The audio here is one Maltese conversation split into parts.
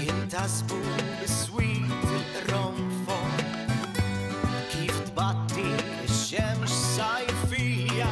Jintasbu biswit il-qronfon kif tbatti x-xemx sajfija.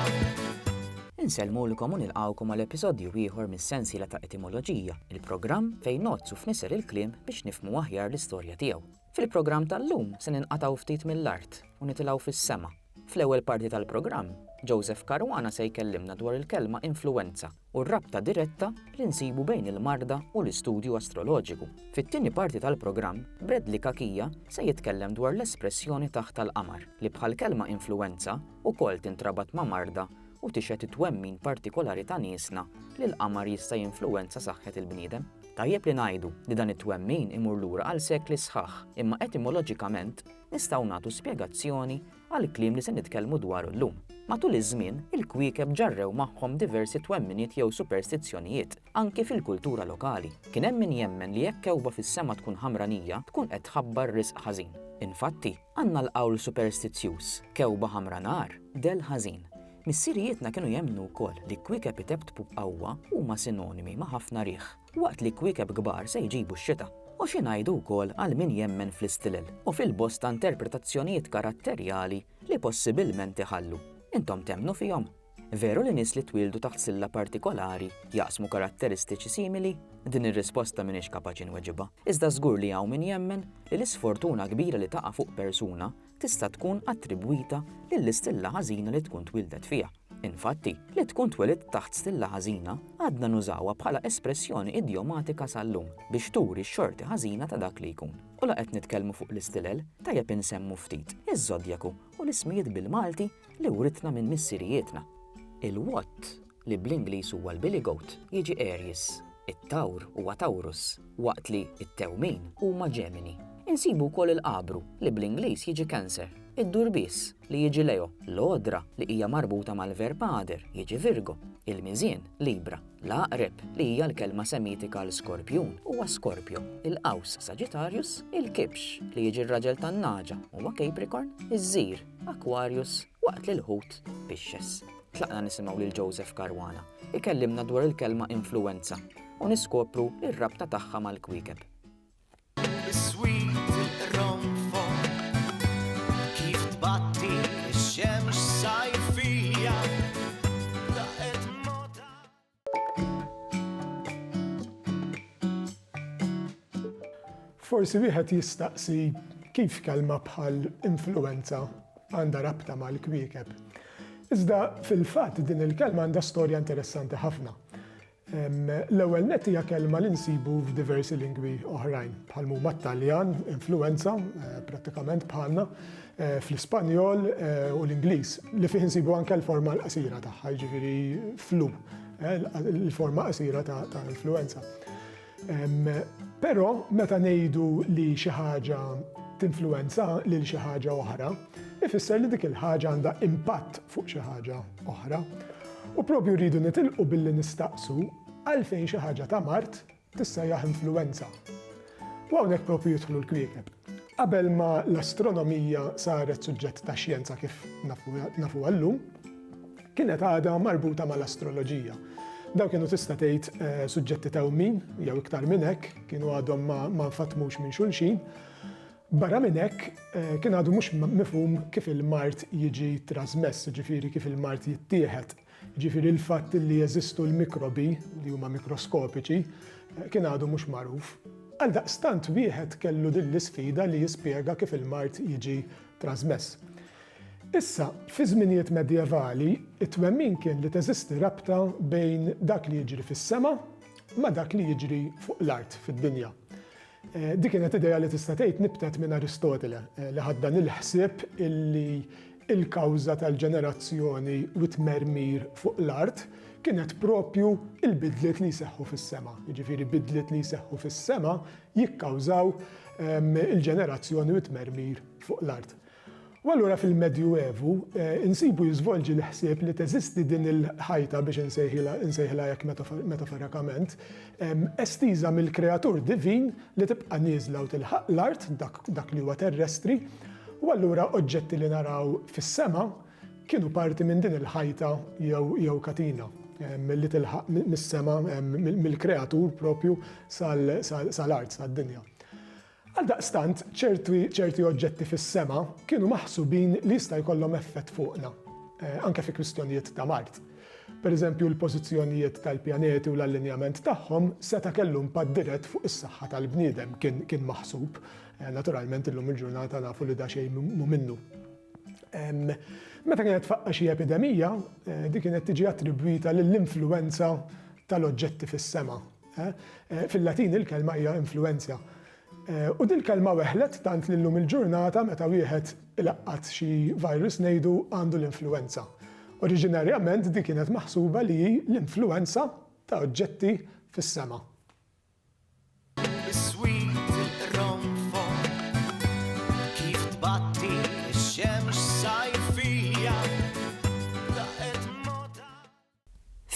Insellmulkom u nilqgħukom għal episodju ieħor mis-sensiela ta' Etimoloġija, il-programm fejn ngħodd u fnisser il-kliem biex nifhmu aħjar l-istorja tiegħu. Fil-programm tal-lum se ninqatgħu ftit mill-art u nitilgħu fis-sema. Fl-ewwel parti tal-programm, Joseph Caruana se jkellimna dwar il-kelma influwenza u r-rabta diretta li nsibu bejn il-marda u l-istudju astroloġiku. Fit-tieni parti tal-programm, Bradley Cachia se jitkellem dwar l-espressjoni taħt tal-qamar, li bħall-kelma influwenza ukoll tintrabat ma' marda u tixhed it-twemmin partikolari ta' niesna li l-qamar jista' jinfluwenza saħħet il-bniedem. Tajjeb li ngħidu li dan it-twemmin imur lura għal sekli sħaħ, imma etimoloġikament, nistgħu nagħtu spjegazzjoni għall-kliem li se nitkellmu dwaru llum. Matul iż-żmien, il-kwiekeb ġarrew magħhom diversi twemminiet jew superstizzjonijiet, anki fil-kultura lokali. Kien hemm min jemmen li jekk kewkba fis-sema tkun ħamranija, tkun qed tħabbar riżq ħażin. Infatti, għandna l-qawl superstizzjuż, kewkba ħamra nar, dell ħażin. Missirijietna kienu jemmnu wkoll li kwiekeb itebtbu b'qawwa huma sinonimi ma' ħafna riħ. Waqt li kwiekeb kbar se jġibu x-xita. U xi ngħidu wkoll għal min jemmen fl-istilel u fil-bosta interpretazzjonijiet karatterjali li possibilment iħallu? Intom temmnu fihom? Veru li nies li twieldu taħt silla partikolari jaqsmu karatteristiċi simili? Din ir-risposta m'iniex kapaċi nweġibha, iżda żgur li hawn min jemmen li l-isfortuna kbira li taqa' fuq persuna tista' tkun attribwita lill-istilla ħażina li tkun twieldet fiha. Infatti, li tkun twelidt taħt stilla ħażina għadna nużawha bħala espressjoni idjomatika sal-lum biex turi x-xorti ħażina ta' dak li jkun. U la qed nitkellmu fuq l-istilel, tajjeb insemmu ftit iż-żodjaku u l-ismijiet bil-Malti li writna minn missirijietna. Il-Watt li bl-Ingliż huwa l-billy goat, jiġi Aries, it-Tawr huwa Taurus, waqt li t-Tewmin huma Ġemini. Insibu wkoll il-Qabru, li bl-Ingliż jiġi Cancer, id-Durbiż, li jiġi Leo, l-Għodra, li hija marbuta mal-verb għader, jiġi Virgo, il-Miżien, Libra, l-Għaqreb, li hija l-kelma Semitika għal Skorpjun, huwa Scorpio, il-Qaws, Sagittarius, il-Kibx, li jiġi r-raġel tan-nagħġa, huwa Capricorn, iż-Żir, Aquarius, waqt li l-Ħut, Pisces. Tlaqna nisimgħu lil Joseph Caruana ikellimna dwar il-kelma influwenza u niskopru r-rabta tagħha mal-kwiekeb. Forsi wieħed jistaqsi kif kelma bħal influenza għandha rabta mal-kwiekeb. Iżda fil-fatt din il-kelma għandha storja interessanti ħafna. L-ewwel net hija kelma li nsibu f'diversi lingwi oħrajn, bħal huma t-Taljan, influenza, eh, prattikament bħalna, fl-Ispanjol u l-Ingliż, li fih insibu anke l-forma l-qasira tagħha, jiġifieri flu, il-forma qasira ta' influenza. Però meta ngħidu li xi ħaġa tinfluwenza lil xi ħaġa oħra, ifisser li dik il-ħaġa għandha impatt fuq xi ħaġa oħra. U propju rridu nitilqu billi nistaqsu għalfejn xi ħaġa ta' mard tissejjaħ influwenza. U hawnhekk proprju jidħlu l-kwiekeb. Qabel ma l-astronomija saret suġġett ta' xjenza kif nafu għallum, kienet għada marbuta mal-astroloġija. Daw kienu tista' tgħid eh, suġġetti ta' min jew iktar minn hekk, kienu għadhom ma nfatmux minn xulxin. Barra minn hekk eh, kien għadu mhux mifhum kif il-mart jiġi trasmess, ġifieri kif il-mart jittieħed. jiġifieri l-fatt li jeżistu l-mikrobi, li huma mikroskopiċi, kien għadu mhux magħruf. Għaldaqstant wieħed kellu din l-isfida li jispjega kif il-mard jiġi trażmess. Issa, fi żminijiet medjevali, it-twemmin kien li teżisti rabta bejn dak li jiġri fis-sema ma' dak li jiġri fuq l-art, fid-dinja. Din kienet idea li tista' tgħid nibtet minn Aristotele, li ħa dan il-ħsieb illi l-kawża tal-ġenerazzjoni u t-tmermir fuq l-art kienet proprju l-bidliet li jseħħu fis-sema. Jiġifieri bidliet li jseħħu fis-sema jikkawżaw il-ġenerazzjoni u t-tmermir fuq l-art. U allura fil-Medju Evu nsibu jiżvolġi l-ħsieb li teżisti din il-ħajta, biex insejħilha hekk metaforikament, estiża mill-kreatur divin li tibqa' nieżla u tilħaq l-art, dak li huwa terrestri, u allura oġġetti li naraw fis-sema kienu parti minn din il-ħajta jew katina li tilħaq mis-sema, mill-kreatur proprju sal-art, sad-dinja. Għaldaqstant, ċerti oġġetti fis-sema kienu maħsubin li jista' jkollhom effett fuqna, anke fi kwistjonijiet ta' mard. Pereżempju, l-pożizzjonijiet tal-pjaneti u l-allinjament tagħhom seta' kellu impatt dirett fuq is-saħħa tal-bniedem, kien maħsub. Naturalment, illum il-ġurnata nafu li daqsxejn mhu minnu. Meta kienet tfaqqa' xi epidemija, din kienet tiġi attribwita lill-influwenza tal-oġġetti fis-sema, Fil-Latin il-kelma hija influenzja. U dil-kelma weħlet tant li llum il-ġurnata meta wieħed ilaqqat xi virus ngħidu għandu l-influwenza. Oriġinarjament di kienet maħsuba li hi l-influwenza ta' oġġetti fis-sema.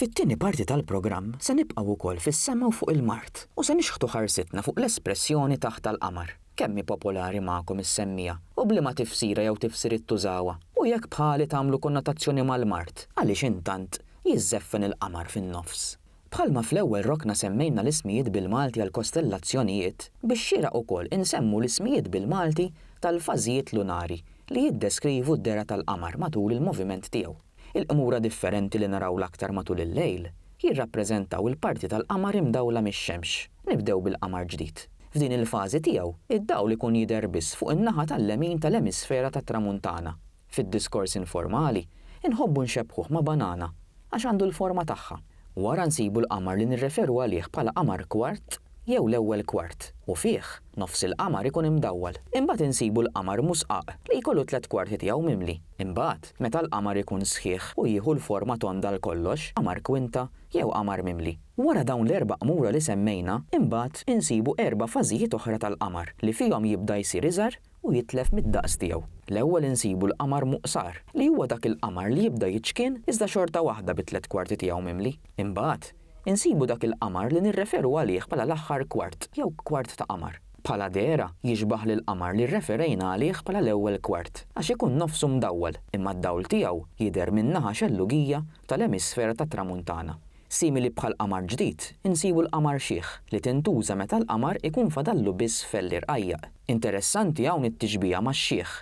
Fit-tieni parti tal-programm se nibqgħu wkoll fis-sema u fuq il-mard u se nixħtu ħarsitna fuq l-espressjoni taħt tal-qamar. Kemm hi popolari magħkom is-semmiegħa u b'liema tifsira jew tifsiriet tużawha? U jekk bħali tagħmlu konnotazzjoni mal-mard, għaliex intant jiżżeffen il-qamar fin-nofs? Bħalma fl-ewwel rokna semmejna l-ismijiet bil-Malti għall-kostellazzjonijiet, bix-xieraq ukoll insemmu l-ismijiet bil-Malti tal-fażijiet lunari li jiddeskrivu d-dehra tal-qamar matul il-moviment tiegħu. Il-qmura differenti li naraw l-aktar matul il-lejl jirrappreżentaw il-parti tal-qamar imdawla mix-xemx. Nibdew bil-qamar ġdid. F'din il-fażi tiegħu, id-dawl ikun jidher biss fuq in-naħa tal-lemin tal-emisfera tat-tramuntana. Fid-diskors informali, inħobbu nxebbħuh ma' banana għax għandu l-forma tagħha. Wara nsibu l-qamar li nirreferu għalih bħala qamar kwart. jew l-ewwel kwart, u fih, nofs il-qamar ikun imdawwal. Imbagħad insibu l-qamar musqaq, li jkollu t-tliet kwarti tiegħu mimli. Imbagħad, meta l-qamar ikun sħiħ u jieħu l-forma tonda għal kollox, qamar kwinta, jew qamar mimli. Wara dawn l-erba' qmura li semmejna, imbagħad insibu erba' fażijiet oħra tal-qamar, li fihom jibda jsir iżgħar, u jitlef mid-daqs tiegħu. L-ewwel insibu l-qamar muqsar, li huwa dak il-qamar li jibda jiċkien iżda xorta waħda bit-tliet kwarti tiegħu mimli. Imbagħad, insibu dak il-qamar li nirreferu għalih bħala l-aħħar kwart jew kwart ta' qamar. Bħala dehra, jixbah lill-qamar li rreferejna għalih bħala l-ewwel kwart, għax ikun nofsu mdawwal, imma d-dawl tiegħu jidher min-naħa xellugija tal-emisfera tat-Tramuntana. Simili bħall-qamar ġdid, insibu l-qamar xiħ, li tintuża meta l-qamar ikun fadallu biss fell li rqajjaq. Interessanti hawn it-tixbiha max-xiħ.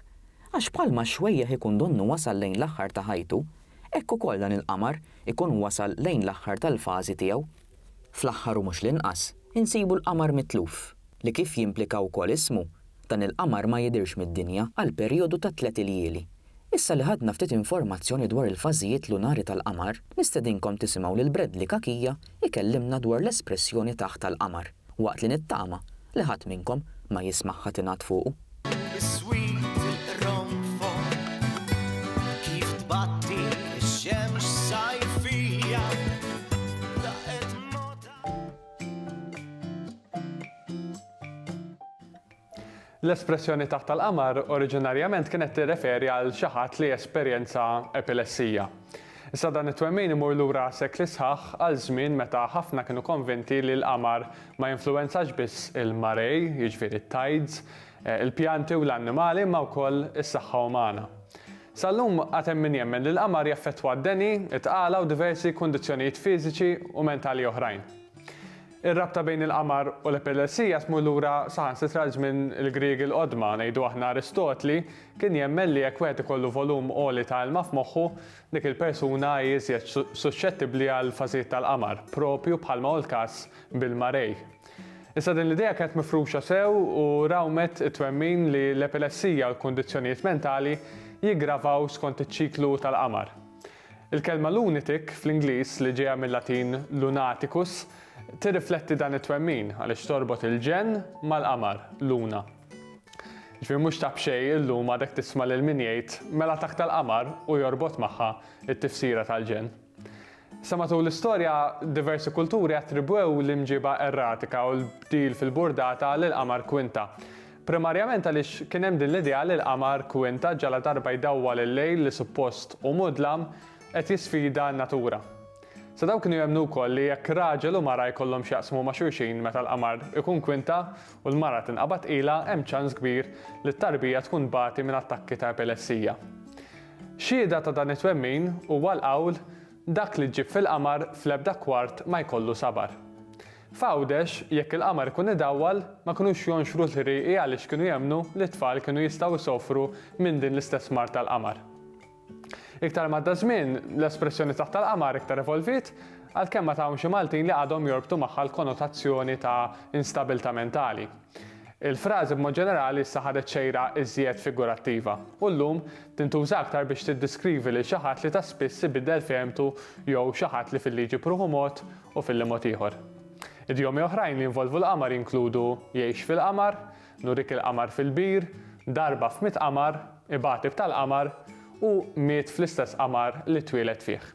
Għax bħalma x-xwejjeħ ikun donnu wasal lejn l-aħħar ta' ħajtu, hekk ukoll dan il-qamar ikun wasal lejn l-aħħar tal-fażi tiegħu. Fl-aħħar u mhux l-inqas, insibu l-qamar mitluf, li kif jimplika wkoll ismu, dan il-qamar ma jidhirx mid-dinja għal perijodu ta' tliet iljieli. Issa li ħadna ftit informazzjoni dwar il-fażijiet lunari tal-qamar, nistedinkom tisimgħu lil Bradley Cachia jkellimna dwar l-espressjoni taħt tal-qamar, waqt li nittama li ħadd minnkom ma jismagħha tingħad fuqu. Is-sweet irronfon kif tbatti x-xemx sajfija daqet moda. L-espressjoni taħt tal-qamar oriġinarjament kienet tirreferi għal xi ħadd li jesperjenza epilessija. Issa dan it-twemmin imur lura sekli sħaħ għal żmien meta ħafna kienu konvinti li l-qamar ma jinfluwenzax biss il-marée, jiġifieri t-tides, il-pjanti u l-annimali imma wkoll is-saħħa umana. Sal-lum għad hemm min jemmen li l-qamar jaffettwa d-deni, it-tqala u diversi kundizzjonijiet fiżiċi u mentali oħrajn. Ir-rabta bejn il-qamar u l-epilessija tmur lura saħansitra għal żmien il-Griegi l-Qodma, ngħidu aħna Aristotli kien jemmen li jekk wieħed ikollu volum għoli ta' ilma f'moħħu, dik il-persuna hi iżjed suxxettibbli għal fażijiet tal-qamar, proprju bħalma hu l-każ bil-marei. Issa din l-idea kienet mifruxa sew u rawmet it-twemmin li l-epilessija u l-kundizzjonijiet mentali jiggravaw skont iċ-ċiklu tal-qamar. Il-kelma lunatic, fl-Ingliż, li ġejja mil-Latin lunaticus, tirrifletti dan it-twemmin għaliex torbot il-ġenn mal-qamar, luna. Jiġifieri mhux ta' b'xejn illum għadek tisma' lil min jgħid mela takta l-qamar u jorbot magħha t-tifsira tal-ġenn. Sa matul l-istorja, diversi kulturi attribwew l-imġiba erratika u l-bdil fil-burdata lill-qamar Quinta, Primarjament għaliex kien hemm din l-idea li l-qamar, kwinta, ġaladarba jdawwal il-lejl li suppost hu mudlam, qed jisfida n-natura. Sa dawn kienu jemmnu wkoll li jekk raġel u mara jkollhom x'jaqsmu ma' xulxin meta l-qamar ikun kwinta u l-mara tinqabad tqila hemm ċans kbir li t-tarbija tkun tbati minn attakki ta' epilessija. Xhieda ta' dan it-twemmin huwa l-qawl, Dak li ġġib fil-qamar fl-ebda kwart ma jkollu sabar. F'Għawdex, jekk il-qamar ikun idawwal, ma kinux jonxru l-ħrieqi għaliex kienu jemmnu li t-tfal kienu jistgħu jsofru minn din l-istess mard tal-qamar. Iktar m'għadda ż-żmien, l-espressjoni taħt tal-qamar iktar evolviet, għalkemm ma ta' hawn xi Maltin li għadhom jorbtu magħha l-konotazzjoni ta' instabilità mentali. Il-frażi b'mod ġenerali issa ħadet xejra iżjed figurattiva, u llum tintuża aktar biex tiddiskrivi lil xi ħadd li ta' spiss ibiddel fehmtu jew xi ħadd li fil-liġi b'ruħu mod u fil-li mod ieħor. Idjomi oħrajn li jinvolvu l-qamar jinkludu jgħix fil-qamar, nurik il-qamar fil-bir, darba f'mitt qamar, ibagħtib tal-qamar, u miet fl-istess qamar li twieled fih.